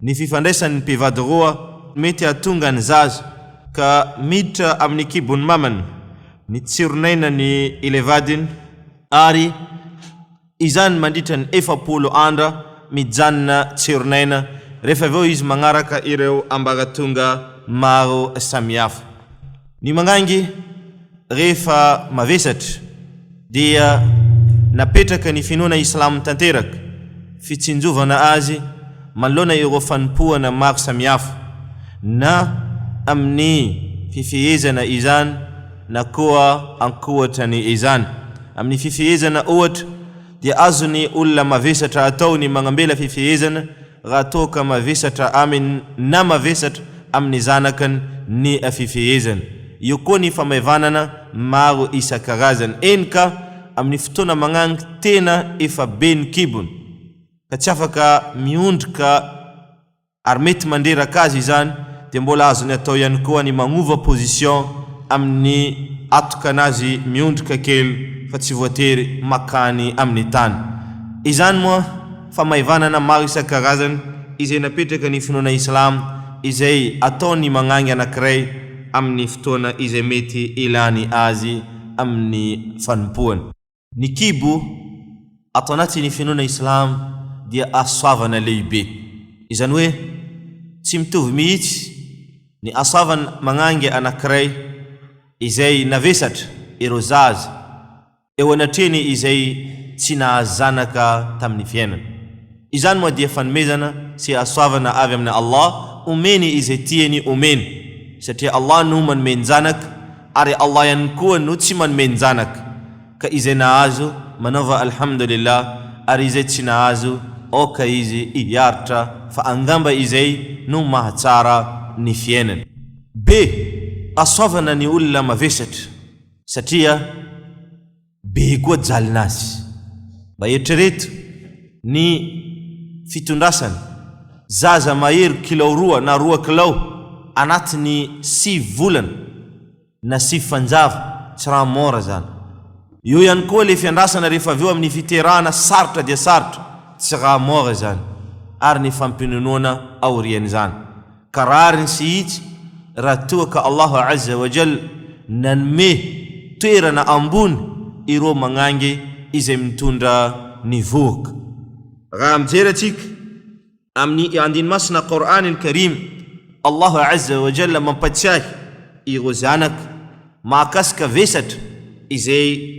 Ny fifandraisan' ny mpivady roa mety hahatonga ny zaza ka miditra amin' ny kibon' ny mamany ny tsiron' ainan' ilay vadiny, ary izany mandritra ny efapolo andra mijanona tsiron' aina, rehefa avy eo izy manaraka ireo ambaratonga maro samihafa. Ny mangangy. Rehefa mavesatra dia napetraka ny finoana Islam tanteraka fitsinjovana azy manoloana ireo fanompoana maro samihafa na amin'ny fifehezana izany na koa ankoatra ny izany. Amin'ny fifehezana ohatra dia azon'ny olona mavesatra atao ny magnambela fifehezana raha toa ka mavesatra aminy na mavesatra amin'ny zanakany ny fifehezana. Eo koa ny famaivanana maro isan-karazany, eny ka amin'ny fotoana magnangy tena efa be ny kibony ka tsy afaka miondrika ary mety mandreraka azy izany dia mbola azony atao ihany koa ny magnova position amin'ny atokan'azy miondrika kely fa tsy voatery makany amin'ny tany izany moa Famaivanana maro isan-karazany izay napetraka ny finoana Islam izay ataon'ny magnangy anankiray amin'ny fotoana izay mety ilany azy amin'ny fanompoany. Ny kibo ato anatin'ny finoana Islam dia hasoavana lehibe. Izany hoe tsy mitovy mihitsy ny hasoavan magnangy anankiray izay navesatra ireo zaza eo anatrehany izay tsy nahazo zanaka tamin'ny fiainany. Izany moa dia fanomezana sy hahasoavana avy amin'i Allah omeny izay tiany omeny, satria Allah no manome njanaka ary Allah ihany koa no tsy manome njanaka, ka izay nahazo, manaova Alhamdulillah, ary izay tsy nahazo, aoka izy hiaritra fa angamba izay no mahatsara ny fiainany. Be hasoavana ny olona mavesatra. satria be koa jalina azy. Mba eritrereto ny fitondrasana zaza mahery kilao roa na roa kilao anatin'ny sivy volana na sivy fanjava, tsy rà mora zany. Eo ihany koa le fiandrasana rehefa avy eo amin'ny fiterahana sarotra dia sarotra, tsy rà mora izany ary ny fampinonoana aorian'izany. Ka rariny sy itsy raha toa ka Allah Azza wa Jalla nanome toerana ambony ireo magnangy izay mitondra ny vohoka. Raha mijery antsika amin'ny andiny masina Qour'an al-Karim, Allah Azza wa Jalla mampatsiahy ireo zanaka mahakasika vesatra izay.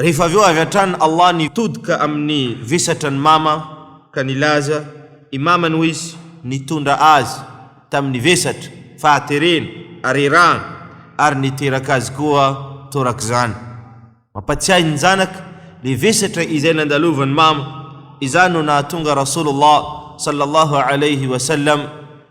Rehefa avy eo avy hatrany Allah nitodika amin'ny vesatra an'i Mama ka nilaza i Mamany ho izy nitondra azy tamin'ny vesatra fahaterena ary erahana ary niteraka azy koa torak'izany. Mampatsiahy ny zanaka le vesatra izay nandalovan'i Mama, izany no nahatonga Rasulullah sallallahu alayhi wa sallam,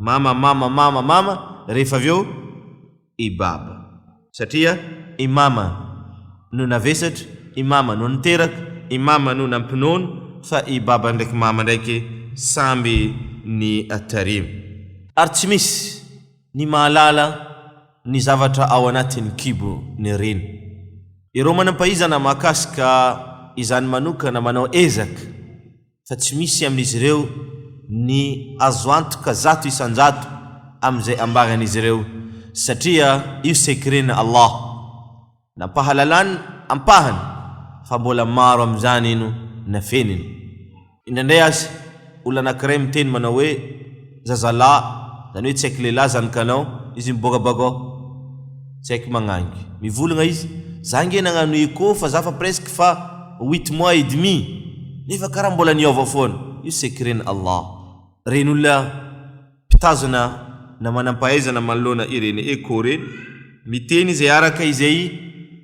Mama mama mama mama rehefa avy eo i baba satria i mama no navesatra i mama no niteraka i mama no nampinono fa i baba ndraiky mama ndraiky samby ny tarimo. Ary tsy misy ny mahalala ny zavatra ao anatin'ny kibo ny reny. Ireo manam-pahaizana mahakasika izany manokana manao ezaka fa tsy misy amin'izy ireo ny azo antoka zato isan-jato amin'izay ambaran'izy ireo, satria io sekren'i Allah, nampahalalany ampahany, fa mbola maro amin'izany no nafeniny. Indraindray aza, olona anankiray miteny manao hoe. zazalahy, zany hoe tsy haiko lehilahy zany kanao, izy miboaka bako ao, tsy haiko magnangy, mivolagna izy, za nge nagnano echo fa za fa presque fa huit mois et demi nefa karaha mbola niova foana, io secret-n' Allah. Reny olona mpitazona na manam-pahaizana manoloana ireny echo reny, miteny izay araka izay.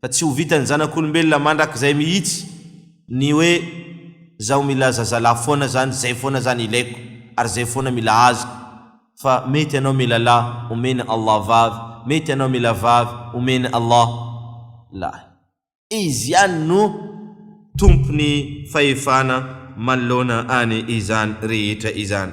fa tsy ho vitan'ny zanak'olombelona mandrakizay mihitsy ny hoe zaho mila zazalahy foana zany, zay foana zany ilaiko ary zay foana mila azoko, fa mety anao mila lahy omen'i Allah vavy, mety anao mila vavy omen'i Allah lahy. Izy ihany no tompon'ny fahefana manoloana an izany rehetra izany.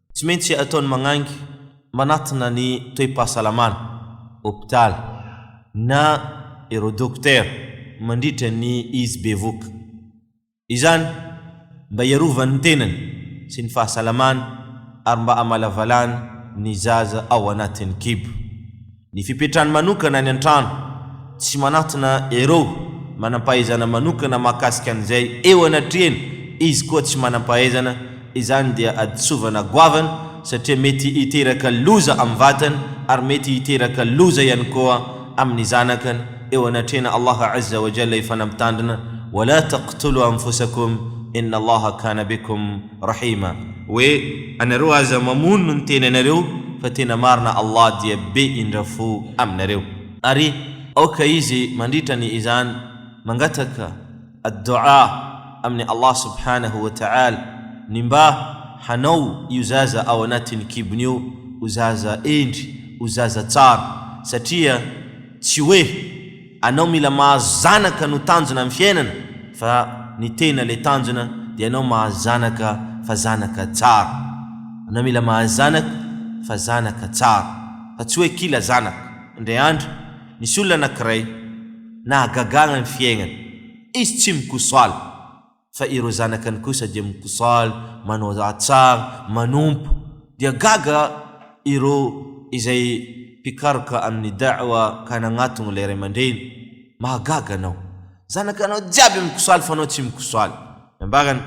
Tsy maintsy ataony magnangy manatona ny toe-pahasalamana, hopitaly, na ireo dokotera mandritra ny izy bevoka. Izany mba hiarovany ny tenany sy ny fahasalamany ary mba hamalavalany ny zaza ao anatin'ny kibo. Ny fipetrany manokana any an-trano, tsy manatona ireo manam-pahaizana manokana mahakasika an'izay eo anatrehany, izy koa tsy manam-pahaizana, izany dia adisovana goavana satria mety hiteraka loza amin'ny vatany ary mety hiteraka loza ihany koa amin'ny zanakany eo anatrehan' Allah Azza wa Jalla Efa nampitandrina, Wa la taqtulu anfusakum, inna Allaha kana bikum. Rahima, hoe, Anareo aza mamono ny tena nareo fa tena marina Allah dia be indra fo aminareo. Ary aoka izy mandritra ny izany mangataka ad-do'a amin'i Allah subhanahu wa ta'ala ny mba hanao io zaza ao anatin'ny kibony io ho zaza hendry, ho zaza tsara, satria tsy hoe Anao mila mahazo zanaka no tanjona am fiainana fa ny tena le tanjona de anao mahazo zanaka fa zanaka tsara anao mila mahazo zanaka fa zanaka tsara fa tsy oe kila zanaka indray andro misy olona anakiray nahagagagna ny fiaignany izy tsy mikosoala fa ireo zanakany kosa dia mikosaly, manao tsara, manompo, dia gaga ireo izay mpikaroka amin'ny Da'wa ka nagnatogno ilay ray aman-dreny, Mahagaga anao! Zanakanao jiaby mikosaly fa anao tsy mikosaly! Nambarany,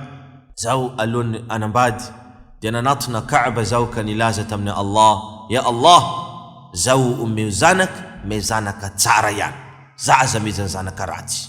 Zaho alohan'ny hanambady dia nanatona Ka'ba zaho ka nilaza tamin'i Allah, Ya Allah! Zaho omeo zanaka, me zanaka tsara ihany, za aza mezan'ny zanaka ratsy.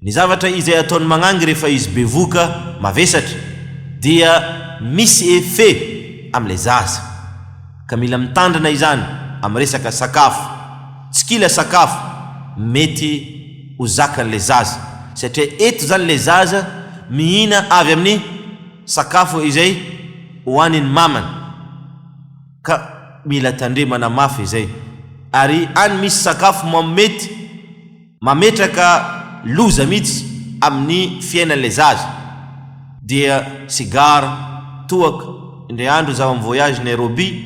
Ny zavatra izay ataon'ny magnangy rehefa izy bevoka, mavesatra, dia misy effet amin'ilay zaza. Ka mila mitandrina izany amin'ny resaka sakafo. Tsy kila sakafo mety ho zakan'ilay zaza. Satria eto izany ilay zaza mihina avy amin'ny sakafo izay hohanin'ny mamany. Ka mila tandremana mafy izay. Ary any misy sakafo mamo mety. mametraka loza mihitsy amin'ny fiainan'ilay zaza dia sigara, toaka, indray andro izaho mi-voyage Nairobi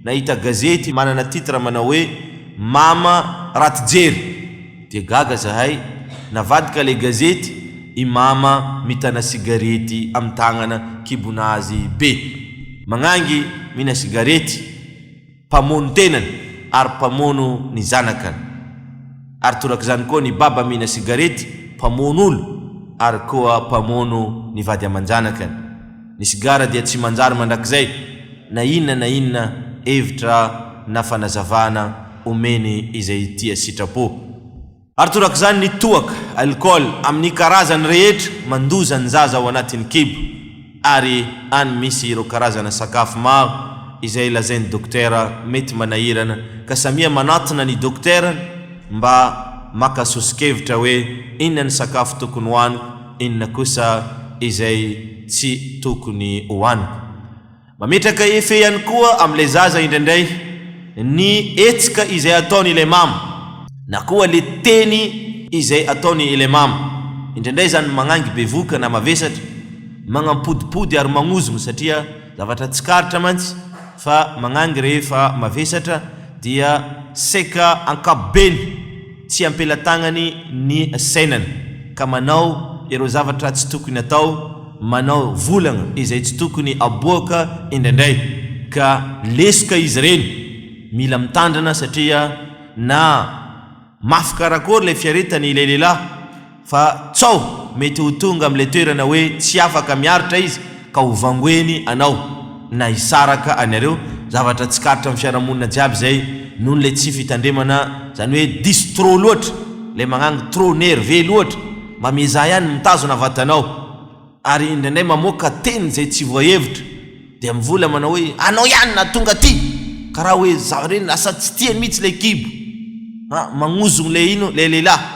nahita gazety manana titre manao hoe mama raty jery dia gaga zahay navadika ilay gazety i mama mitana sigarety amin'ny tagnana kibon'azy be magnangy mihina sigarety mpamono tenany ary mpamono ny zanakany, ary torak'izany koa ny baba mihina sigarety mpamono olo ary koa mpamono ny vady aman-janakany. Ny sigara dia tsy manjary mandrakizay na inona na inona hevitra na fanazavana omeny izay tia sitrapo. Ary torak'izany ny toaka, alcool, amin'ny karazany rehetra mandoza ny zaza ao anatin'ny kibo, ary any misy ireo karazana sakafo maro izay lazain'ny dokotera mety manahirana ka samia manatona ny dokotera mba maka soso-kevitra hoe inona ny sakafo tokony hohaniko, inona kosa izay tsy tokony hohaniko. Mametraka effet ihany koa amin'ilay zaza indraindray ny hetsika izay ataony ilay mama na koa le teny izay ataony ilay mama. Indraindray izany magnangy bevoka na mavesatra, magnampodipody ary magnozogno satria zavatra tsikaritra mantsy fa magnangy rehefa mavesatra dia seka ankapobeny. tsy am-pelatagnany ny sainany ka manao ireo zavatra tsy tokony atao, manao volagna izay tsy tokony aboaka indraindray ka lesoka izy ireny, mila mitandrina satria na mafy karakory ilay fiaretany ilay lehilahy, Fa tsaho mety ho tonga amin'ilay toerana hoe tsy afaka miaritra izy ka ho vangoeny anao na hisaraka anareo, zavatra tsikaritra amin'ny fiarahamonina jiaby izay noho ilay tsy fitandremana, izany hoe diso trop loatra, ilay magnagny trop nerveux loatra, mba miezaha ihany mitazona vatanao, ary indraindray mamoaka teny izay tsy voahevitra, dia mivola manao hoe anao ihany nahatonga aty, karaha hoe za reny lasa tsy tiany mihitsy ilay kibo, ah magnozogno ilay ino ilay lehilahy.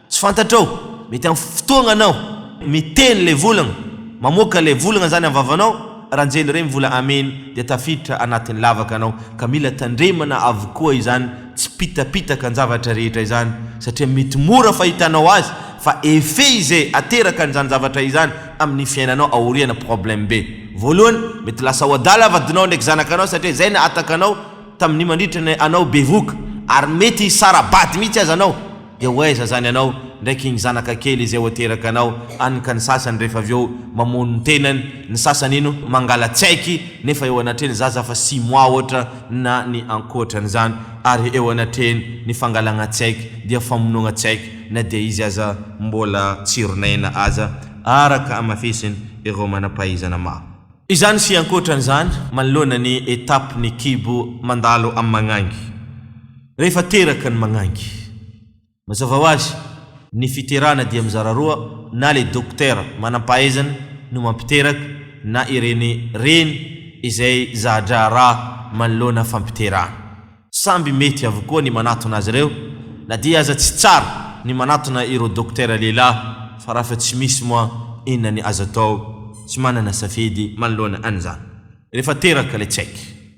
Tsy fantatrao, mety am fotoagna anao. Miteny le volagna, mamoaka le volagna zany am vavanao, ra njely rey mivola amen dia tafiditra anatin lavaka anao, ka mila tandremana avokoa izany tsipitapitaka njavatra rehetra izany, satria mety mora fahitanao azy, fa effet ize aterakan zany zavatra izany aminy fiainanao aoriana problème be, voalohany mety lasa ho adala vadinao ndraiky zanakanao satria zay nahataka anao taminy mandritra ny anao bevoka, ary mety hisara bady mihitsy aza anao, Dia ho aiza zany anao ndraiky igny zanaka kely izay ho teraka anao any ka ny sasany rehefa avy eo mamono ny tenany, ny sasany ino mangala tsaiky nefa eo anatreny zaza fa six mois ohatra na ny ankoatran'izany ary eo anatreny ny fangalagna tsaiky dia famonoagna tsaiky na dia izy aza mbola tsironaina aza araka amafisiny ireo manampahaizana maro. Izany sy ankoatran'izany manoloana ny étape ny kibo mandalo amin'ny magnangy. Rehefa teraka ny magnangy. Mazava ho azy, ny fiterana dia mizara roa, na le dokotera manampahaizana no mampiteraka na ireny reny izay za-draharaha manoloana fampiterana. Samby mety avokoa ny manatona azy ireo, na dia aza tsy tsara ny manatona ireo dokotera lehilahy fa rafa tsy misy moa inona ny azo atao, tsy manana safidy manoloana an'izany. Rehefa teraka le tsaiky.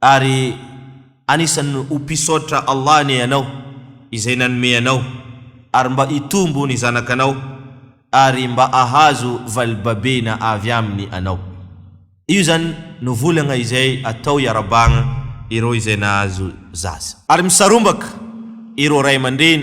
Ary anisan'ny ho mpisaotra Allah anie ianao izay nanome anao ary mba hitombo ny zanakanao ary mba ahazo valibabena avy aminy anao. Io izany no volagna izay atao hiarabagna ireo izay nahazo zaza. Ary misarombaka ireo ray aman-dreny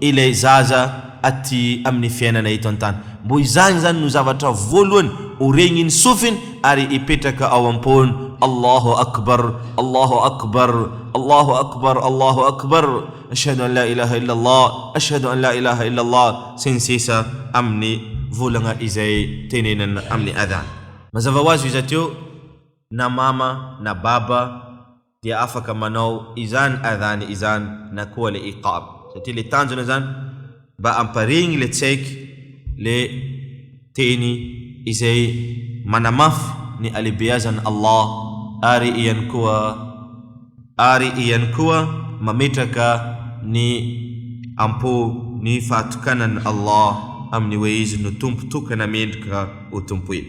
ilay zaza aty amin'ny fiainana eto an-tany. Mbo izany izany no zavatra voalohany oregny ny sofiny ary ipetraka ao am-pony. Allahu Akbar, Allahu Akbar, Allahu Akbar, Allahu Akbar, Ashhadu an la ilaha illa Allah, Ashhadu an la ilaha illa Allah, sy ny sisa amin'ny volagna izay tenenina amin'ny adhan. Mazava ho azy io iza teo na mama na baba, dia afaka manao izany adhan izany na koa le iqam satria le tanjona zany mba amparihigny le tsaiky le teny izay manamafy ny alebeazan Allah ary iany koa ary iany koa mametraka ny ampo ny fahatokanan Allah aminy hoe izy no tompo tokana mendrika ho tompoina.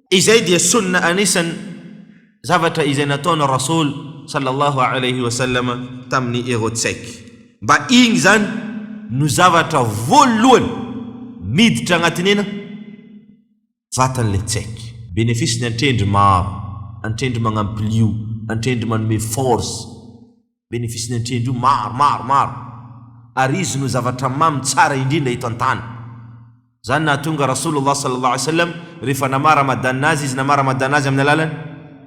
Izay dia Sunnah anisan zavatra izay nataon Rasool sallallahu alayhi wa sallam tamin ny ireo tsaiky mba igny izany no zavatra voalohany miditra agnatin ena vatan le tsaiky. Benefice ny antrendry maro, antrendry magnampilio, antrendry manome force. Benefice-ny antrendry io maro, maro, maro. Ary izy no zavatra mamy tsara indrindra eto an-tany. Izany nahatonga Rasoulullah Sallallahu Alayhi Wasallam rehefa namaha Ramadan azy izy namaha Ramadan azy amin'ny alalan'ny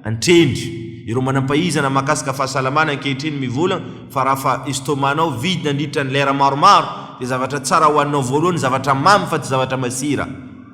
antrendry. Ireo manam-pahizana mahakasika fahasalamana ankehitriny mivolagna fa raha fa estomac-nao vide nandritra ny lera maromaro dia zavatra tsara hohaninao voalohany zavatra mamy fa tsy zavatra masira.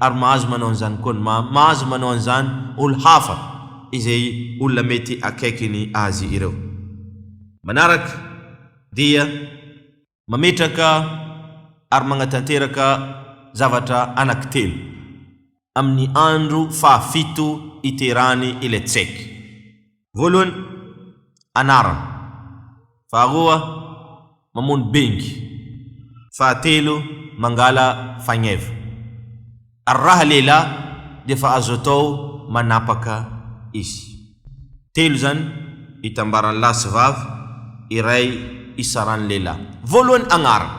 Ary mahazo manao an'izany koa ny mama, mahazo manao an'izany olo hafa izay olona mety akaikiny azy ireo. Manaraka dia mametraka ary magnatanteraka zavatra anankitelo amin'ny andro fahafito iterany ilay tsek. Voalohany, anarana. Faharoa, mamono bengy. Fahatelo, mangala fagneva. Ary raha lehilahy dia efa azo atao manapaka izy. Telo izany itambaran'ny lahy sy vavy iray isaran'ny lehilahy. Voalohany, agnarana.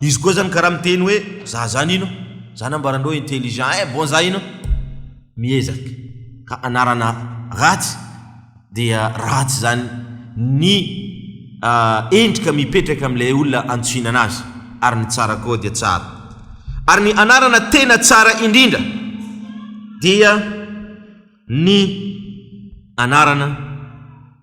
Izy koa zany karaha miteny hoe za zany ino zany ambarandreo intelligent eh bon za ino miezaka ka anarana ratsy dia ratsy zany ny endrika mipetraka amin'ilay olona antsoina anazy ary ny tsara koa dia tsara ary ny anarana tena tsara indrindra dia ny anarana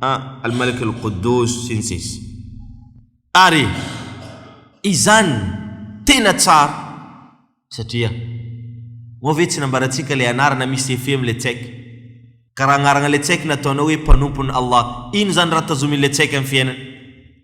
Al-Malik Al-Quddous, sy ny sisa Ary izany tena tsara satria moa ve tsy nambarantsika ilay anarana misy effet amin'ilay tsaika? Ka raha agnarana ilay tsaika nataonao hoe mpanompon'i Allah, ino izany raha tazomin'ilay tsaika amin'ny fiainana?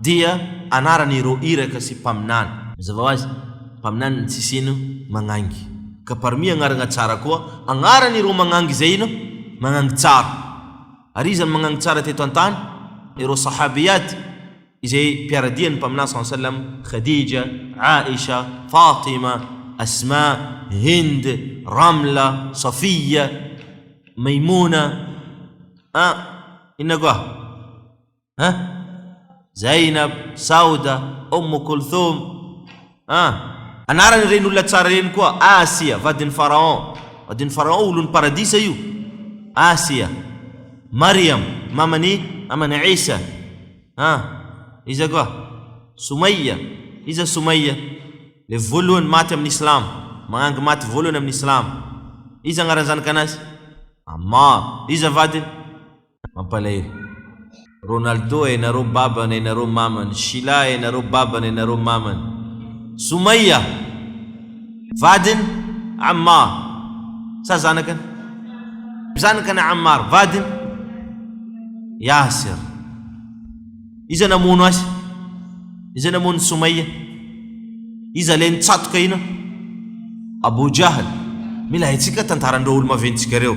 Dia anarany ireo iraka sy mpaminany. Mazava ho azy, mpaminany ny tsisy ino magnangy. Ka parmi agnaragna tsara koa, agnarany ireo magnangy izay ino magnangy tsara. Ary iza no magnangy tsara teto an-tany? Ireo Sahabiyat, izay mpiara-dia ny Mpaminany saw sallam, Khadija, Aisha, Fatima, Asma, Hind, Ramla, Safiya, Maymuna, a. Inona koa? ha Zainab, Sauda, Oum Kulthum, ha. Anaran' ireny olona tsara ireny koa, Asia, vadin' ny Faraon, vadin' ny Faraon, olon' ny Paradisa io, Asia, Mariam, maman' i, maman' i Isa, ha, iza koa, Soumayya, iza Soumayya, ilay voalohany maty amin' ny Islamo, mahangy maty voalohany amin' ny Islamo, iza anaran' ny zanakan' azy, Ammar, iza vadiny? Mampalahelo. Ronaldo eh nareo babany eh nareo mamany Shila eh nareo babany eh nareo mamany Soumaia vadiny Ammar sa zanakany? Zanakany Ammar vadiny Yasser Iza namono azy? Iza namono Soumaia? Iza le nitsatoka ina? Abou Jahl Mila haintsika tantaran-dreo olo-maventy tsika reo.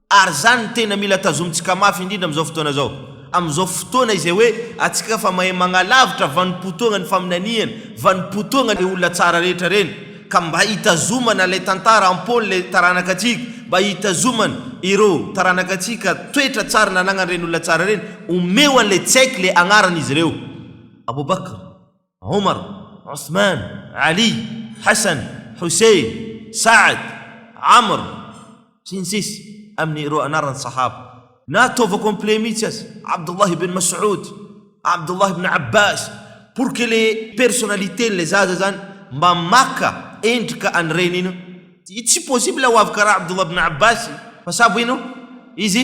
Ary izany no tena mila tazomintsika mafy indrindra amin'izao fotoana izao. Amin'izao fotoana izay hoe antsika fa mahay magnalavitra vanim-potoagna ny faminaniana, vanim-potoagna le olona tsara rehetra ireny, ka mba hitazomana ilay tantara am-pon'ilay taranaka antsika, mba hitazomana ireo taranaka antsika toetra tsara nanagnan'ireny olona tsara ireny, omeo an'ilay tsaiky le agnaran'izy ireo. Abou Bakr. Omar, Othman, Ali, Hassan, Hussein, Sa'd, Amr, sy ny sisa Amin' ireo anaran'ny Sahaba. Na ataovao complet mihitsy aza, Abdullah ibn Mas'oud, Abdullah ibn Abbas, pour que le personnaliten'ilay zaza zany mba maka endrika an'i reniny io. Tsy possible ho avy karaha Abdullah ibn Abbas fa sa voinao izy?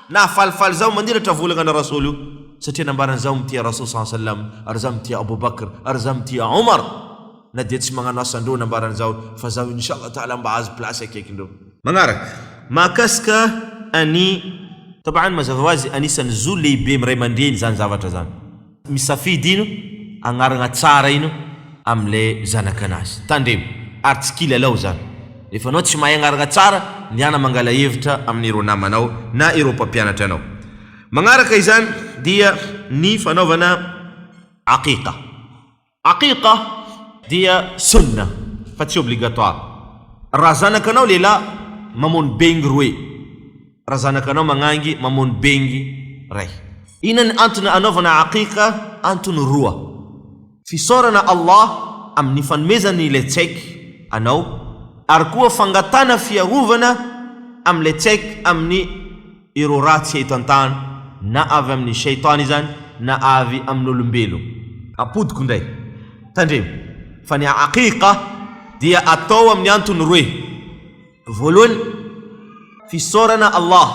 Nahafalifaly zaho maniratra volagana Rasool io satria nambarany zaho mitia Rasool saw salam ary zaho mitia Abou Bakr ary zaho mitia Omar na dia tsy magnano asa ndreo nambarany zaho fa zaho Inch'Allah Taala mba ahazo place akaiky ndreo. Magnaraka, mahakasika an'i. Tabaan mazava ho azy anisan'ny zo lehibe miray mandreny zany zavatra zany. Misafidy ino agnaragna tsara ino amle zanakanazy. Tandremo ary tsy kilalao zany. Refa anao tsy mahay agnaragna tsara, ndehana mangala hevitra amin'ireo namanao na ireo mpampianatra anao. Magnaraka izany dia ny fanaovana Aqiqa. Aqiqa dia Sunnah fa tsy obligatoire. Raha zanakanao lehilahy, mamono bengy roe. Raha zanakanao magnangy, mamono bengy ray. Inona ny antony anaovana Aqiqa? Antony roa, Fisaorana Allah amin'ny fanomezany ilay tsaiky anao ary koa fangatahana fiarovana amin'ilay tsaiky amin'ny. Ireo ratsy eto an-tany, na avy amin'ny Shaitàn izany na avy amin'olombelogna. Ampodiko indray. Tandremo fa ny Aqiqah dia atao amin'ny antony roe, voalohany, fisaorana Allah,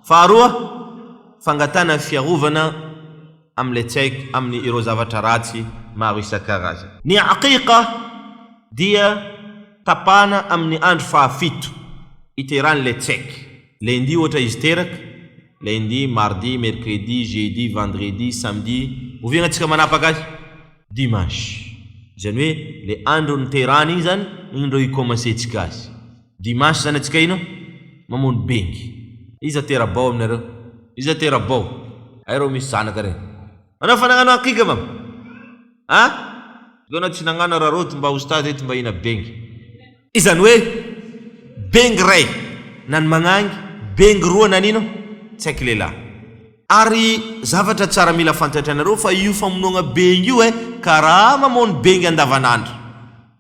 faharoa, fangatahana fiarovana. amin'ilay tsy haiko amin'ny ireo zavatra ratsy maro isan-karazany. Ny Aqiqa dia tapahana amin'ny andro fahafito iteran'ilay tsy haiko, Lundi ohatra izy teraka, Lundi, Mardi, Mercredi, Jeudi, Vendredi, Samedi, oviana tsika manapaka azy? Dimanche, izany hoe ilay andro niterahany iny izany no indreo i-commencer-tsika azy. Dimanche zany atsika ino? Mamono bengy. Iza tera-bao aminareo? Iza tera-bao? Hay reo misy zanaka reny. Anao efa nagnano akika va? A? Zao anao tsy nagnano ra roty mba oustaz eto mba ina bengy. Izany hoe bengy ray na ny magnangy, bengy roa na ny ino? Tsy haiko lehilahy. Ary zavatra tsara mila fantatranareo fa io famonoagna bengy io eh, karaha mamono bengy andavanandro.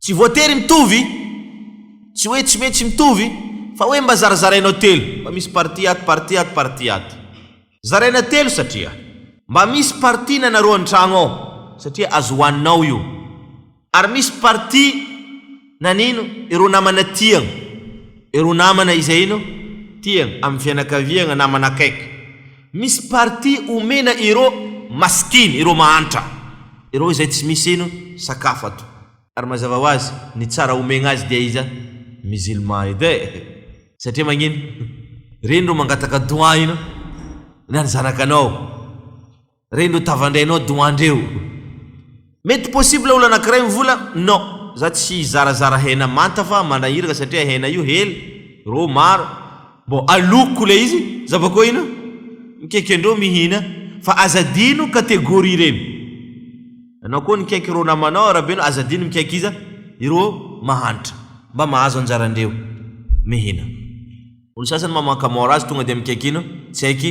Tsy voatery mitovy, tsy hoe tsy maintsy mitovy, fa hoe mba zarazarainao telo, mba misy partie ato, partie ato, partie ato. Zaraina telo satria mba misy partie nanarao an-tragno ao satria azo hohaninao io, ary misy partie nanino ireo namana tiagna, ireo namana izay ino? tiagna, amin'ny fianakaviagna, namana akaiky. Misy partie omena iro masikiny, iro mahantra iro izay tsy misy ino sakafo ato. Ary mazava ho azy ny tsara omegna azy dia iza musulman edy eh! satria magnino reny ro mangataka doua ino na ny zanakanao reny ro tavandrainao doua ndreo. Mety possible olo anakiray mivola no za tsy hizarazara hena manta fa manahiraka satria hena io hely ro maro mbo aloko le izy za bako ina mikeke ndro mihina fa aza adino categorie reny anao ko nikaiky ro namanao arabeno aza adino mikaiky iza iro mahantra mba mahazo anjara ndreo mihina. Olo sasany ma mankamora azy tonga dia mikaiky ino tsy haiky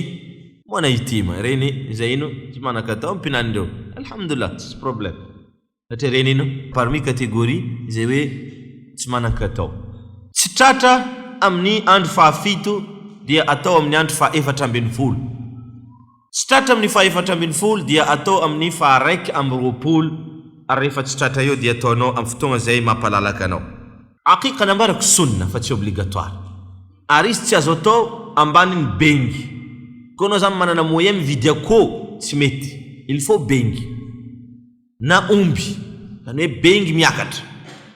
moa na ity ma reny izay ino tsy manakatao am pinany reo alhamdoulilah tsisy problème satria reny ino parmi catégorie izay hoe tsy manankatao. Tsy tratra amin ny andro faha fito dia atao amin ny andro faha efatra ambin'ny folo. Tsy tratra amin'ny fahefatra ambin'ny folo dia atao amin'ny faharaika amby roapolo ary rehefa tsy tratra eo dia ataonao amin'ny fotoagna izay mampalalaka anao. Aqiqa nambarako sunna fa tsy obligatoire ary izy tsy azo atao ambanin'ny bengy koa anao zany manana moyen mividy akoho tsy mety il faut bengy na omby zany hoe bengy miakatra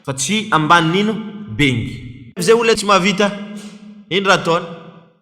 fa tsy ambanin'ino? bengy. Izay olona tsy mahavita, ino raha ataony?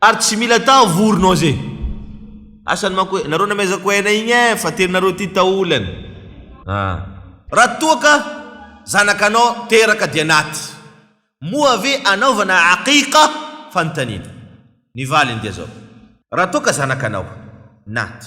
Ary tsy mila atao vorona oz e. Asany manko hoe nareo namezako aina igny eh fa teninareo ty taolany ah. Raha toa ka zanakanao teraka dia naty moa ve anaovana aqiqa? Fanontaniana. Ny valiny dia zao. Raha toa ka zanakanao naty.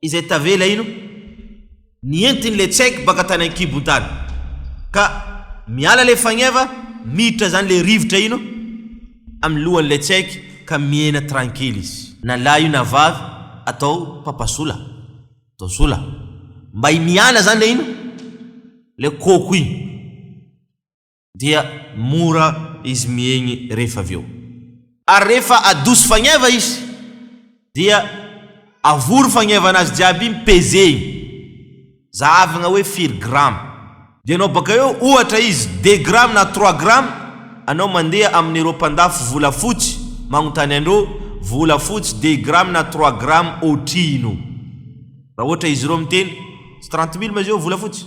izay tavela ino ny entiny le tsek baka tany ankibony tany ka miala le fagneva miditra zany le rivotra ino amin'ny lohany le tsek ka miena trankely izy na lahy io na vavy atao papa sola atao sola mba hiniana zany le ino le koko iny. dia mora izy miegny rehefa avy eo. Ary rehefa adoso fagneva izy, dia avory fagnevanazy jiaby igny, pezegny, zahavagna hoe firy grama. Dia anao baka eo, ohatra izy, deux grama na trois grama, anao mandeha amin'ireo mpandafo volafotsy, magnontany andreo, volafotsy deux grama na trois grama oatrino? Raha ohatra izy ireo miteny, tsy trente mille ma zay volafotsy?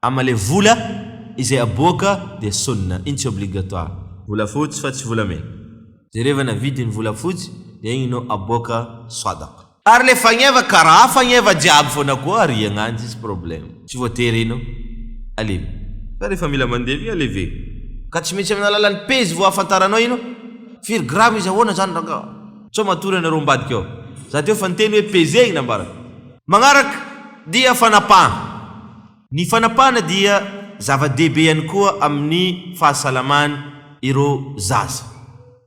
Ama le vola izay aboaka dia sonina, iny tsy obligatoire. Volafotsy fa tsy volamena. Jerevana vidiny volafotsy dia igny no aboaka sadaqa. Ary le fagneva karaha fagneva jiaby fona koa ariagna any tsisy problème. Tsy voatery ino alevy fa rehefa mila mandeha igny alevegny. Ka tsy maintsy amin'ny alalan'ny pejy vao ahafantaranao ino? Firy grama izy ahoana zany rangah? Sao matory anareo ambadika ao. Za teo fa niteny hoe pezegny nambarako. Magnaraka dia fanapahana. Ny fanapahana dia zava-dehibe ihany koa amin'ny fahasalaman ireo zaza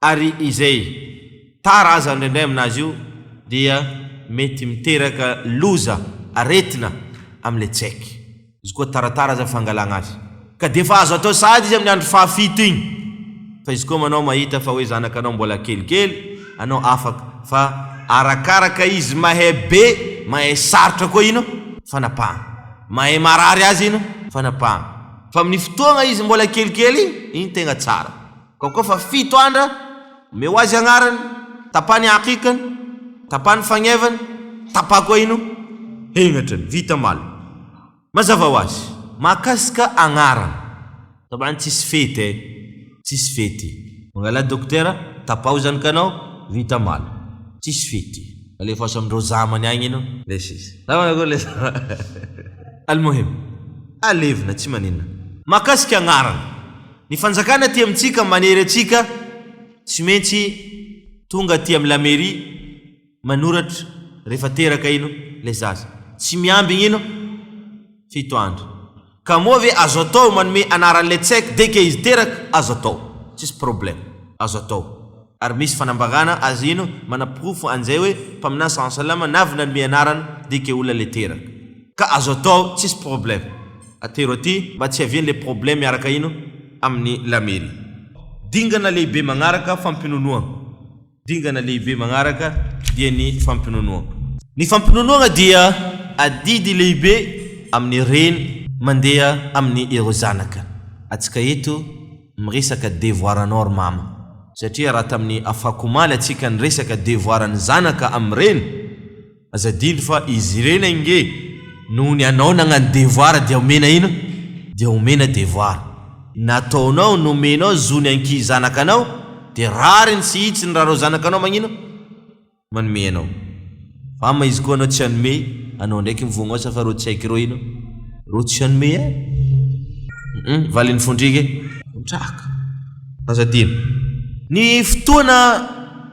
ary izay tara aza indraindray aminazy io dia mety miteraka loza, aretina, amin'ilay tsaiky. Izy koa taratara aza fangalana azy. Ka dia efa azo atao sahady izy amin'ny andro fahafito iny. Fa izy koa manao mahita fa hoe zanakanao mbola kelikely, anao afaka. Fa arakaraka izy mahay be, mahay sarotra koa ino? Fanapahana. Mahay marary azy ino? Fanapahana. Fa amin'ny fotoagna izy mbola kelikely iny tegna tsara. Ka koa fa fito andra, omeo azy agnarany, tapaha ny aqikany, tapaha ny fagnevany, tapaha koa ino? Hengatrany. Vita malina. Mazava ho azy, mahakasika agnarana. Taban'ny tsisy fety eh. Tsisy fety. Mangalà dokotera, tapaho zany ka anao, vita mala. Tsisy fety. Alefaso amindreo zamany agny ino. Lesy izy. Sa manakory lesy anao. Almohim. Alevina, tsy maninona. Mahakasika agnarana. Ny fanjakana aty amintsika manery antsika, tsy maintsy tonga aty amin'ny la mairie, manoratra rehefa teraka ino ilay zaza. Tsy miambigny ino? Fito andro. Ka moa ve azo atao manome anaran'ilay tsek dès que izy teraka? Azo atao. Tsisy problème. Azo atao. Ary misy fanambarana azy ino? Manaporofo an'izay hoe Mpaminany saw salama navy nanome anarana dès que olona ilay teraka. Ka azo atao tsisy problème. Atero aty mba tsy hiavian'ilay problème miaraka ino? Amin'ny la mairie. Dingana lehibe magnaraka fampinonoagna. Dingana lehibe magnaraka dia ny fampinonoagna. Ny fampinonoagna dia adidy lehibe amin'ny reny mandeha amin'ny ireo zanaka. Atsika eto miresaka devoir anao ry mama. Satria raha tamin'ny afakomaly atsika niresaka devoir ny zanaka amin'ny reny. Aza adino fa izy ireny ange noho ny anao nagnano devoir dia omena ino? Dia omena devoir. Nataonao, nomenao zo ny ankihy zanakanao dia rariny sy hitsiny raha reo zanakanao magnino? Manome anao. Fa ama izy koa anao tsy hanome, anao ndraiky mivognao sa fa reo tsy haiko reo ino? Reo tsy hanome eh! Hum valin'ny fondriky eh! Vondraka. Aza adino. Ny fotoana.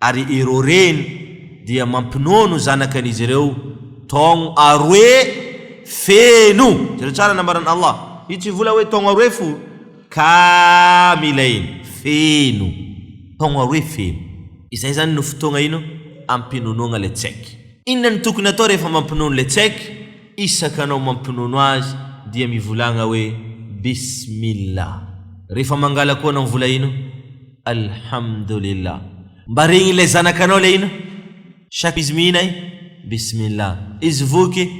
ary ireo reny dia mampinono zanakan'izy ireo taogno aroe feno, jereo tsara ny nambaran'Allah, io tsy vola hoe taogno aroe fo, kaamilayn, feno, taogno aroe feno, izay izany no fotoagna ino? ampinonoagna ilay tsaiky. Inona no tokony atao rehefa mampinono ilay tsaiky? isaka anao mampinono azy dia mivolagna hoe bismillah rehefa mangala koa anao vola ino? Alhamdulillah Mba regny ilay zanakanao ilay ino? Chaque izy mihina eh? Bismillah Izy voky eh?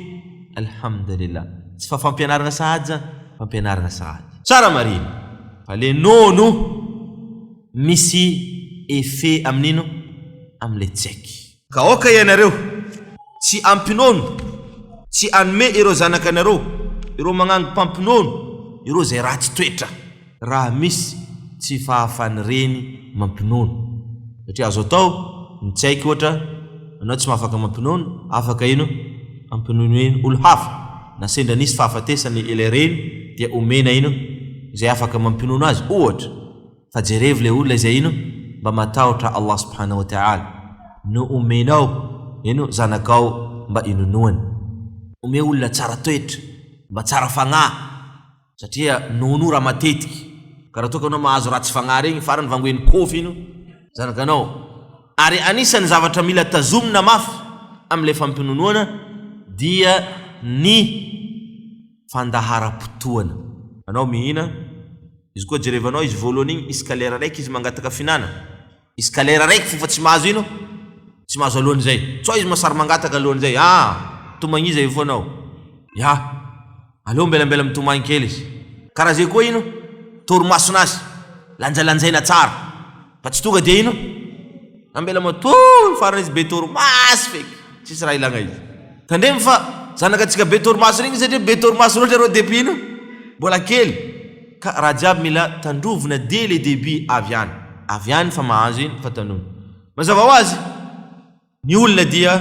Alhamdulillah Tsy fa fampianarana sahady zany? Fampianarana sahady Tsara marina Fa le nono misy effet amin'ino? Amin'ilay tsaiky Ka aoka ianareo tsy hampinono, tsy hanome ireo zanakanareo, ireo magnangy mpampinono, ireo izay ratsy toetra. Raha misy tsy fahafan'ny reny mampinono. Satria azo atao ny tsy haiko ohatra, anao tsy mahafaka mampinono, afaka ino hampinono iny olo hafa, na sendra nisy fahafatesany ilay reny dia omena ino izay afaka mampinono azy ohatra. Fa jerevo le olona izay ino mba matahotra Allah subhanahu wa ta'ala no omenao ino zanakao mba inonoany. Omeo olona tsara toetra mba tsara fagnahy satria nono raha matetiky ka raha toa ka anao mahazo ratsy fagnahy regny farany vangoen'ny kofy ino zanakanao. Ary anisan'ny zavatra mila tazomina mafy amle fampinonoana dia ny. fandaharam-potoana. Anao mihina, izy koa jerevanao izy voalohany igny, izy ka lera raiky izy mangataka fihinana, izy ka lera raiky f'efa tsy mahazo ino? tsy mahazo alohan'izay, sao izy ma sary mangataka alohan'izay, aa tomagniza eo foana ao, ya, aleo ambelambela mitomagny kely izy, karaha zay koa ino? torimason'azy, lanjalanjaina tsara. Fa tsy tonga dia ino? Nambela matoa farany izy be torimaso feky. Tsisy raha ilagna izy. Tandremo fa zanaka antsika be torimaso regny satria be torimaso loatra reo depuis ino? Mbola kely. Ka raha jiaby mila tandrovina dès le début avy any. Avy any fa mahazo ino fa tandrovina. Mazava ho azy. Ny olona dia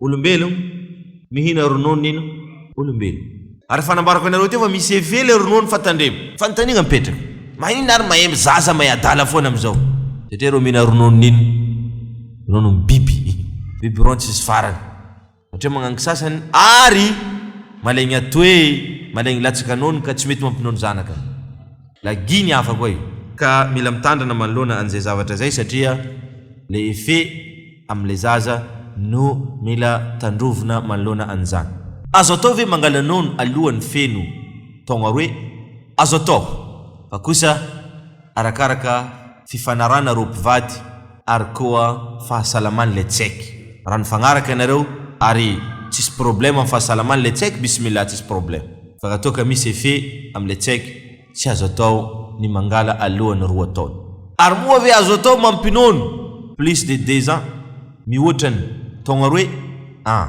olombelo mihina rononon'in olombelo. Ary efa nambarako anareo teo fa misy effet le ronono fa tandremo. Fanontaniagna mipetraka, maninona ary mahemby zaza mahay adala foana amizao? Satria ireo mihina rononon'in rononon'ny biby, biby ron tsisy farany, satria magnangy sasany ary malegny atoe, malegny latsaka nono ka tsy mety mampinono zanaka. Lagihy ny afako e! Ka mila mitandrina manoloana an'izay zavatra izay satria le effet amin'ilay zaza no mila tandrovina manoloana an'izany. Azo atao ve mangala nono alohan'ny feno taogna roe? Azo atao fa kosa arakaraka. fifanarahana roa mpivady ary koa fahasalaman ilay tsieky raha nifagnaraka ianareo ary tsisy problème am fahasalamany ilay tsieky bismillah tsisy problème fa raha toa ka misy effet am ilay tsieky tsy azo atao ny mangala alohany roa taona. Ary moa ve azo atao mampinono plus de deux ans mihoatra ny taogna roe an?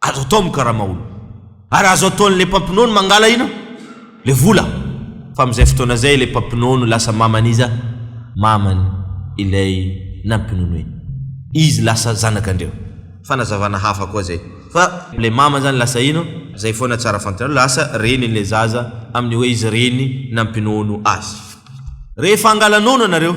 Azo atao mikarama olo. Ary azo ataon le mpampinono mangala ino? Le vola. Fa amzay fotoana zay le mpampinono lasa maman iza? Maman ilay nampinono iny. Izy lasa zanak andreo. Fanazavana hafa koa zay. Fa. Le maman zany lasa ino? Zay foana tsara fantanareo. Lasa renin le zaza aminy oe izy reny nampinono azy. Rehefa angala nono anareo.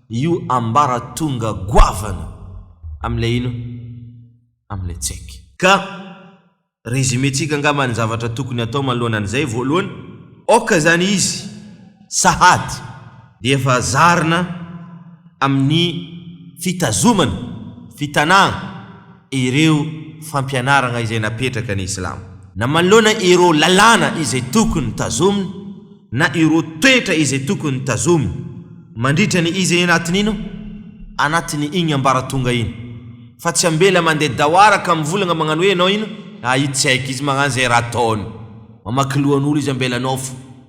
io ambaratonga goavana amin'ilay ino? Amin'ilay Tseky. Ka resumentsika angamba ny zavatra tokony hatao manoloana an'izay, voalohany, aoka izany izy sahady dia efa zarina amin'ny fitazomana, fitanahana, ireo fampianaragna izay napetraka ny Islamo. Na manoloana ireo lalàna izay tokony tazomina na ireo toetra izay tokony tazomina mandritra ny izy eny anatin'ino? anatin'ny igny ambaratonga igny. Fa tsy ambela mandeha dawara ka mivolagna magnano hoe ianao ino? Ahitsaiky izy magnano izay raha ataony. Mamaky lohan'olo izy ambela nofo.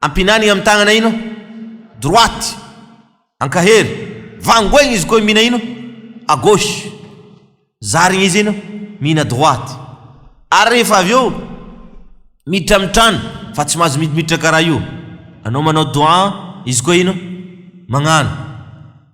Ampinany amy tagnana ino? Droite. Ankahery. Vangoegny izy koa mihina ino? A gauche. Zarigny izy ino? Mihina droite. Ary rehefa avy eo miditra amy trano fa tsy mahazo miditra karaha io. Anao manao doigts izy koa ino? Magnano.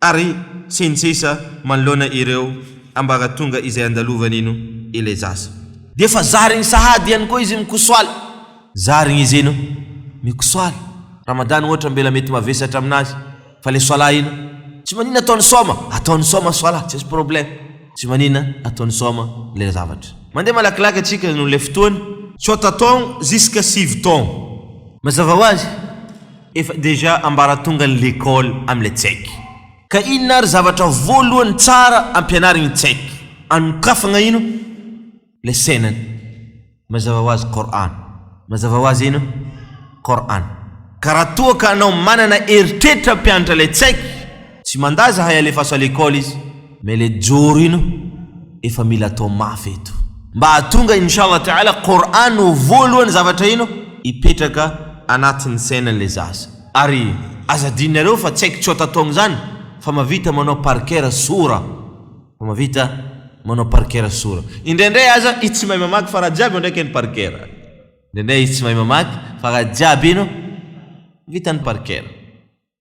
ary sy ny sisa manoloana ireo ambaratonga izay andalovan'ino ilay zaza. Dia efa zariny sahady ihany koa izy mikosoala. Zariny izy ino mikosoala. Ramadany ohatra mbela mety mavesatra aminazy fa ilay soala ino tsy manina atao ny soma atao ny soma soala tsisy problème tsy manina atao ny soma ilay zavatra. Mandeha malakilaky atsika noho ilay fotoana. Tsôta taogno jusqu'à sivy taogno. Mazava ho azy. Efa déjà ambaratonga ny l'école amin'ilay tsaiky. Ka inona ary zavatra voalohany tsara ampianarigny ny tsaiky? Anokafagna ino? Ilay sainany. Mazava ho azy Qur'an. Mazava ho azy ino? Qur'an. Ka raha toa ka anao manana eritreritram-pianatra ilay tsaiky Tsy mandà zahay alefaso à l'école izy mais le joro ino efa mila atao mafy eto. Mba hahatonga Inch'Allah Ta'ala Qur'an ho voalohany zavatra ino hipetraka anatin'ny sainany le zaza. Ary aza adinonareo fa tsy haiko tsy otatong zany fa mavita manao par cœur sora fa mavita manao par cœur sora. Indraindray aza izy tsy mahay mamaky fa raha jiaby eo ndraiky iny par cœur. Indraindray izy tsy mahay mamaky fa raha jiaby ino vitany par cœur.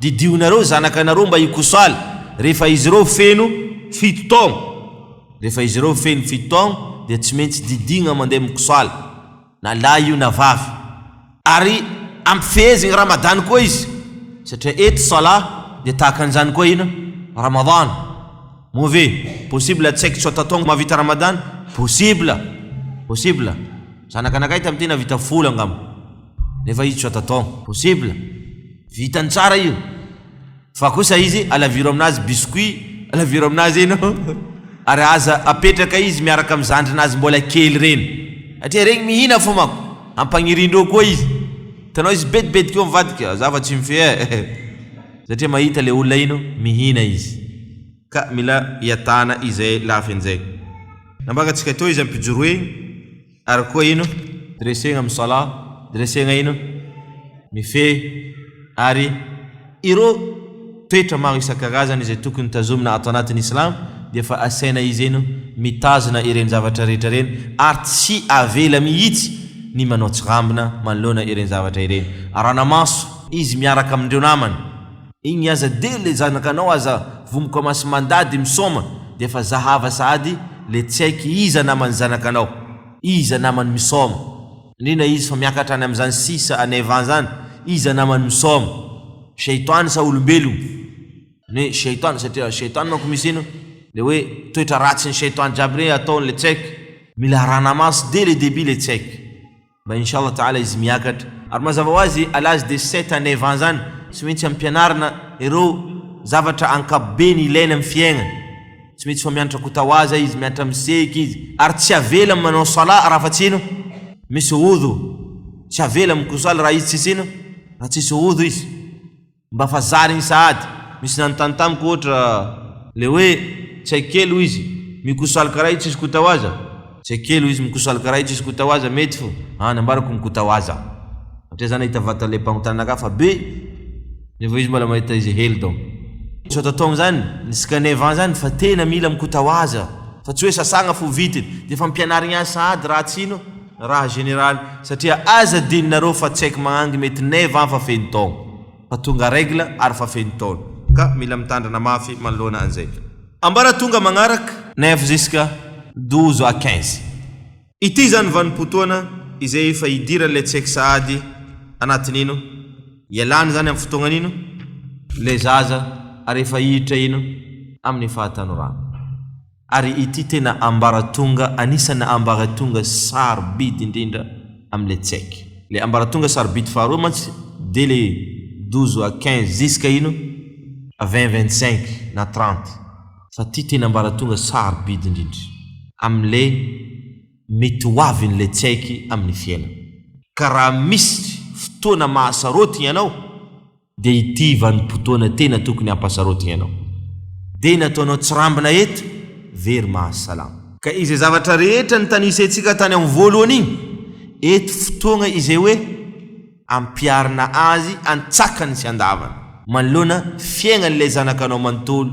Didio nareo zanaka nareo mba hikosaly rehefa izy ireo feno fito taogno. Rehefa izy ireo feno fito taogno dia tsy maintsy didigna mandeha mikosaly na lahy io na vavy. Ary ampifehezigny Ramadany koa izy satria eto Salah dia tahaka an'izany koa ino? Ramadany. Moa ve possible tsy haiko tsôta taogno mahavita Ramadany? Possible! Possible! Zanaka anakay tamin'ity nahavita folo angamba nefa izy tsôta taogno. Possible! Vitany tsara io. Fa kosa izy alaviro aminazy biscuit alaviro aminazy eny ô. Ary aza apetraka izy miaraka am zandrinazy mbola kely reny. Satria regny mihina fô manko. Ampagnirindreo koa izy. Hitanao izy bedibedika eo mivadika. Za fa tsy mifehy eh. Satria mahita le olona iny mihina izy. Ka mila iatana izay lafiny zay. Nambakantsika teo izy am pijoro egny. Ary koa ino? Dressegna amin'ny salah, dressegna ino? Mifehy. Ary ireo toetra maro isan-karazany izay tokony tazomina ato anatin'ny Islam dia efa asaina izy ino? Mitazona ireny zavatra rehetra ireny ary tsy avela mihitsy ny manao tsirambina manoloana ireny zavatra ireny. Arana-maso. Izy miaraka amin'ireo namany. Igny aza de le zanakanao aza vomoka maso mandady misaoma de efa zahava sahady le tsy haiky iza namany zanakanao, iza namany misaoma. Indrindra izy fa miakatra any amzany sisa any Evan zany iza namany misaoma, Shaytan sa olombelogno? Ny hoe Shaytan satria Shaytan manko misy ino le hoe toetra ratsin'i Shaytan jiaby regny ataony le tsy haiky, mila arahana maso de le debut le tsy haiky. Mba inshallah taala izy miakatra. Ary mazava ho azy à l'âge de sept à neuf ans zany tsy maintsy ampianarina ireo zavatra ankapobeny ilaina amin'ny fiaigna, tsy maintsy fa mianatra kotawaza izy, mianatra miseky izy, ary tsy avela manao salah raha fa tsy ino? misy wudhu, tsy avela mikosala raha izy tsisy ino? raha tsisy wudhu izy. Mba fa zary iny sahady. Misy nanontany tamiko ohatra le hoe tsy hay kely hoy izy mikoso aloka raha io tsisy kota ho aza tsy hay kely hoy izy mikoso aloka raha io tsisy kota ho aza mety fo any ambarako ny kota ho aza satria za nahita vata le mpangotrana anakahy fa be nefa izy mbola mahita izy hely donc tsy ho atao amizany ny scanner vent zany fa tena mila mikota ho aza fa tsy hoe sasagna fo vitiny de efa ampianarigny azy sahady raha tsy ino Raha général satria aza adinonareo fa tsaiky magnangy mety neuf ans fa feno taogno fa tonga règle ary fa feno taona ka mila mitandrina mafy manoloana anzay. Ambaratonga magnaraka. Neuf jusqu'à douze à quinze. Ity izany vanim-potoana izay efa hidiran'ilay tsaiky sahady anatin'ino ialany izany amin'ny fotoagnan'ino ilay zaza ary efa hiditra ino amin'ny fahatanorana. Ary ity tena ambaratonga anisan'ny ambaratonga sarobidy indrindra amin'ilay tsaiky. Ilay ambaratonga sarobidy faharoa mantsy dia ilay douze à quinze ziska ino à vingt vingt cinq na trente fa ity tena ambaratonga sarobidy indrindra amin'ilay mety ho avin'ilay tsaiky amin'ny fiainana. Ka raha misy fotoana mahasarôty ianao Dia ity vanim-potoana tena tokony hampasarotina ianao. Dia nataonao tsirambina eto ve ry Mahasalama? Ka izay zavatra rehetra nitanisentsika tany amin'ny voalohany iny, eto fotoagna izay hoe ampiharina azy antsakany sy andavany. Manoloana fiaignan'ilay zanakanao manontolo.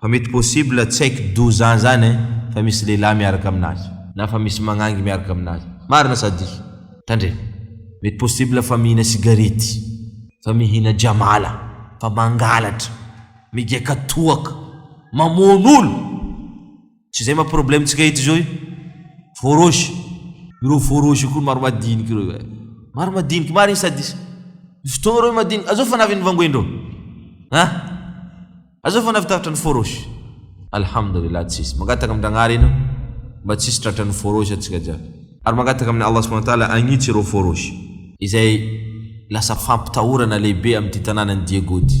Fa mety possible tsy haiko doza zany eh fa misy lehilahy miaraka aminazy. Na fa misy magnangy miaraka aminazy. Marina sa diso? Tandremo. Mety possible fa mihina sigarety. Fa mihina jamala. Fa mangalatra. Migiaka toaka. Mamono olo. Tsy izay ma problème tsika eto izao io? Feu rouge. Ireo feu rouge io koa maro madiniky ireo eh. Maro madiniky marigny sady is. Misy fotoagna ireo madiniky. Azao fana avy ny vangoen-dreo. Ha? Azao fana avy taratra ny feu rouge. Alhamdulillah tsisy. Mangataka amin-dragnahary enao mba tsisy tratra ny feu rouge antsika jiaby. Ary mangataka amin' Allah subhanahu wa ta'ala hagnitsy ireo feu rouge. Izay lasa fampitahorana lehibe amin'ity tanànan'i Diego ity.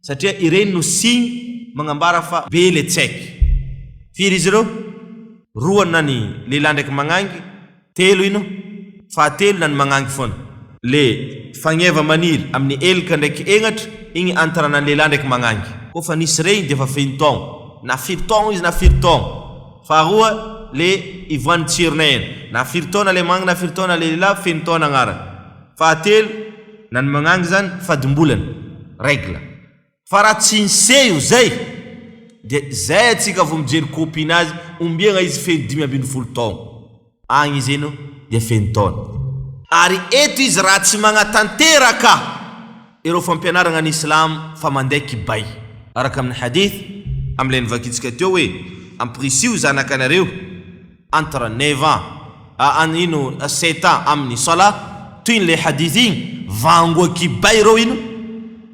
satria ireny no signe magnambara fa be le tsaiky. Firy izy ireo? Roa na ny lehilahy ndraiky magnangy, telo ino? Fahatelo na ny magnangy foana. Le fagneva maniry amy ny elika ndraiky egnatra igny antarana ny lehilahy ndraiky magnangy. Koa fa nisy regny dia fa feno taogno, na firy taogno izy na firy taogno. Faharoa le ivoahan'ny tsirona eny, na firy taona le magnangy na firy taona le lehilahy, feno taona agnarany. Fahatelo, na ny magnangy izany fadimbolana, règle. Fa raha tsy niseho izay, dia izay antsika vao mijery copie nazy, ombiagna izy feno dimy ambin'ny folo taogno. Agny izy ino dia feno taona. Ary eto izy raha tsy magnatanteraka. Ireo fampianaragna ny Islam fa mandeha kibay. Araka amin'ny hadith, amin'ilay novakintsika teo hoe, Ampirisiho zanakanareo, entre neuf ans, a an ino, a sept ans, amin'ny Salah, toy ny le hadith igny, vangoa kibay ireo ino?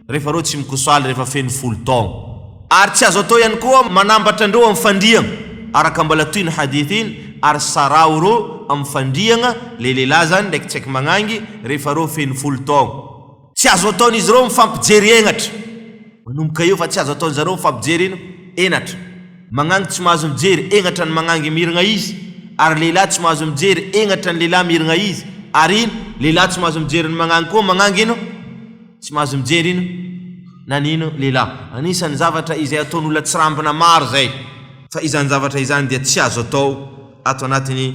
rehefa ireo tsy mikosoaly rehefa feno folo taogno. Ary tsy azo atao ihany koa manambatra andreo amin'ny fandriagna, araka mbola toy ny hadith iny, ary saraho ireo amin'ny fandriagna, le lehilahy zany, ndraiky tsy haiko magnangy, rehefa ireo feno folo taogno. Tsy azo ataon'izy ireo mifampijery henatra. Manomboka eo fa tsy azo ataon'izy ireo mifampijery ino? Henatra. Magnangy tsy mahazo mijery henatra ny magnangy mirigna izy, ary lehilahy tsy mahazo mijery henatra ny lehilahy mirigna izy, ary ino? Lehilahy tsy mahazo mijery ny magnangy koa magnangy ino? Tsy mahazo mijery ino? Na ny ino? Lehilahy. Anisan'ny zavatra izay ataon'olona tsirambina maro izay. Fa izany zavatra izany dia tsy azo atao ato anatin'ny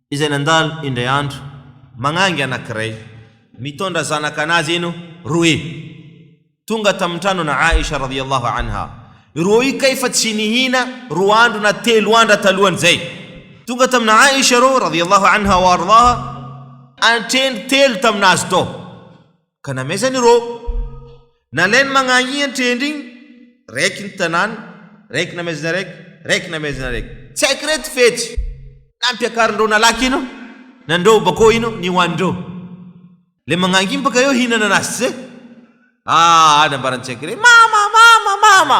izay nandalo indray andro magnangy anankiray mitondra zanaka anazy eno roe tonga tamin'ny tranon'i Aisha radhiyallahu anha ireo io kay fa tsy nihina roa andro na telo andra talohan'izay tonga tamin'i Aisha ireo radhiyallahu anha wa ardhaha antrendry telo tamin'azy tao ka namaizany ireo. Nalainy magnahiahy an-trendry igny, raiky ny tanàna, raiky namaizana raiky, raiky namaizana raiky. Tsy haiko reto fetsy nampiakarin-dreo nalaky ino nandreo bakeo ino nihoanin-dreo. Le magnahiahy baka eo hihinana anazy tsy zay? Aa nambaran-tsaiky re, mama, mama, mama!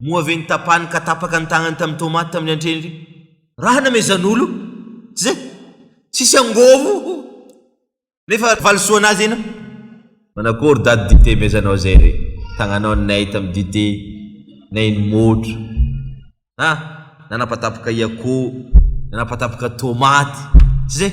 Moa ve notapahany ka tapaka ny tagnany tamin'ny tômaty tamin'ny antreny ry. Raha namezan'olo? Tsy zay? Tsisy angôvo ô! Nefa valisoa anazy ianao? Manakory dady dite mezanao zay re? Tagnanao ninay tamin'ny dite nay nimôtro. Ha! Nanapatapaka i akoho, nanapatapaka tômaty. Tsy zay?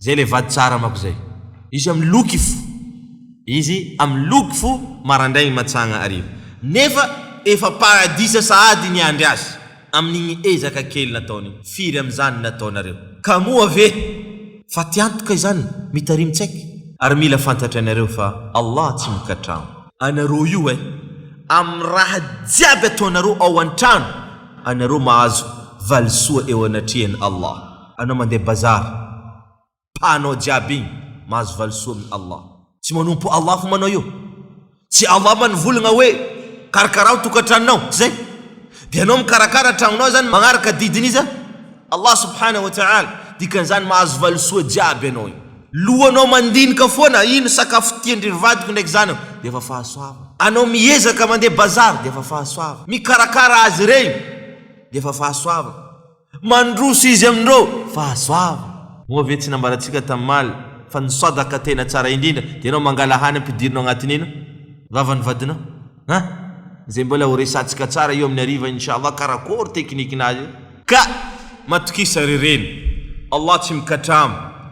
Zay le vady tsara amako zay. Izy am loky fo. Izy am loky fo marandraigny matsagna hariva. Nefa efa paradisa sahady niandry azy amin'igny ezaka kely nataony firy amin'izany nataonareo. Ka moa ve fa ty antoka izany mitarimy tsaiky. Ary mila fantatra ianareo fa Allah tsy mikatrano. Anareo io eh. Amin'ny raha jiaby ataonareo ao antrano anareo mahazo valisoa eo anatrehan'i Allah. Anao mandeha bazar pahanao jiaby igny mahazo valisoa amin Allah. Tsy manompo Allah hono anao io. Tsy Allah va nivolagna hoe karakarao tokatranonao, tsy zay? Dia anao mikarakara tragnonao zany magnaraka didin iza? Allah subhanahu wa ta'ala. Dikan'izany mahazo valisoa jiaby anao io. Lohanao mandinika foana ino sakafo tiandry vadiko ndraiky zanako dia efa fahasoavana. Anao miezaka mandeha bazar dia efa fahasoavana. Mikarakara azy regny dia efa fahasoavana. Mandroso izy amin'ireo fahasoavany. Moa ve tsy nambarantsika tamin'i Maly fa ny sadaka tena tsara indrindra dia ianao mangalahany ny ampidirina ao anatin'ny ino? Vavan'ny vadinao. An! Izay mbola ho resahantsika tsara io amin'ny hariva Inshallah karakory teknikinazy io. Ka matokisa ry reny. Allah tsy mikatrama.